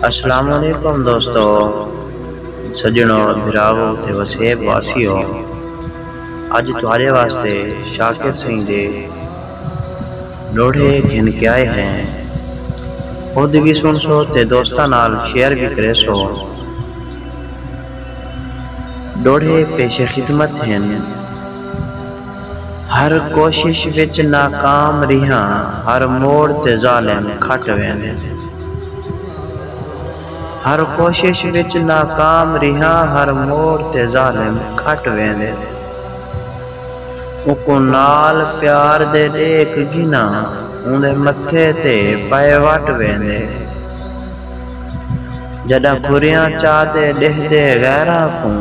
اسلام علیکم دوستو سجنڑو بھراوو تے وسیب واسیو اج تہاڈے واسطے شاکر سئیں دے لوڑھے گھن کے آئے ہیں خود وی سنڑسو تے دوستاں نال شیئر وی کریسو لوڑھے پیش خدمت ہن۔ ہر کوشش وچ ناکام ریہاں۔ ہر موڑ تے ظالم کھٹ ویندے۔ ہر کوشش وچ ناکام ریہاں۔ ہر موڑ تے ظالم کھٹ ویندے۔ اوکوں نال پیار دے ݙیکھ گھناں۔ اوندے متھے تے پئے وٹ ویندے۔ جݙاں کھریاں چاتے ݙیہدے غیراں کوں۔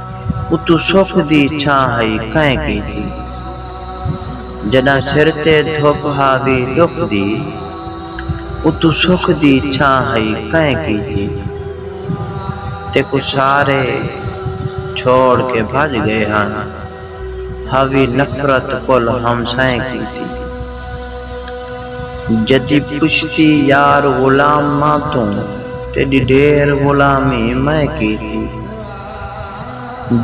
اتوں سکھ دی چھاں ہئی کئیں کیتی۔ جݙاں سر تے دھپ ہاوی ݙکھ دی۔ اتوں سکھ دی چھاں ہئی کئیں کیتی۔ تیکوں سارے چھوڑ کے بھڄ ڳئے ہن۔ ہاوی نفرت کل ہمسائیں کیتی۔ جدی پچھتی یار غلاماں توں تیݙی ݙھیر غلامی میں کیتی۔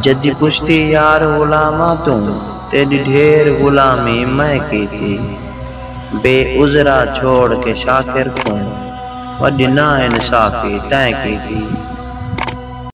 جدی پچھتی یار غلاماں توں تیݙی ڈھیر غلامی میں کیتی بے عذرا چھوڑ کے شاکر کوں وݙی نا انصافی تیں کیتی۔